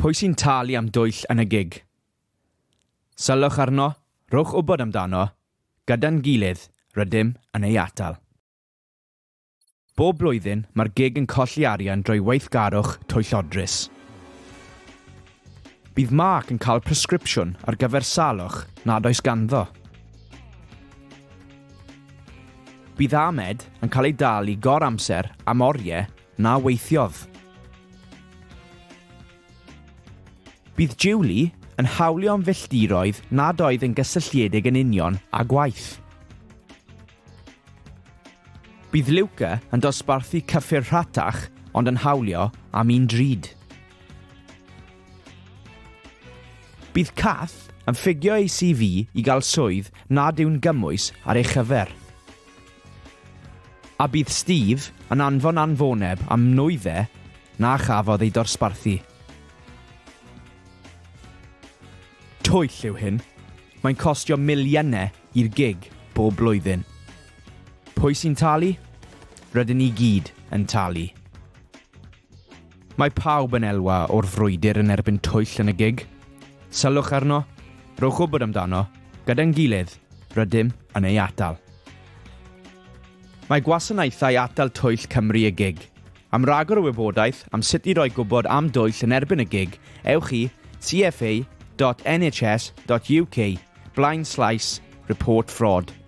Pwy sy'n talu am dwyll yn y gig? Sylwch arno, rhowch wybod amdano, gyda'n gilydd, rydym yn ei atal. Bob blwyddyn, mae'r gig yn colli arian drwy weithgarwch twyllodrus. Bydd Mark yn cael presgripsiwn ar gyfer salwch nad oes ganddo. Bydd Ahmed yn cael ei dal i gor amser am oriau Na weithiodd. Bydd Julie yn hawlio am filltiroedd nad oedd yn gysylltiedig yn union â gwaith. Bydd Luca yn dosbarthu cyffur rhatach ond yn hawlio am un drud. Bydd Kath yn ffugio ei CV i gael swydd nad yw'n gymwys ar ei chyfer. A bydd Steve yn anfon anfoneb am nwyddau na chafodd eu dorsbarthu. Twyll yw hyn, mae'n costio miliynau i'r gig bob blwyddyn. Pwy sy'n talu? Rydyn ni gyd yn talu. Mae pawb yn elwa o'r frwydr yn erbyn twyll yn y gig. Sylwch arno, rhowch wybod amdano, gyda'n gilydd, rydym yn ei atal. Mae gwasanaethau atal twyll Cymru y gig. Am ragor o wybodaeth am sut i roi gwybod am dwyll yn erbyn y gig, ewch i cfa.nhs.uk blaenslaes report fraud.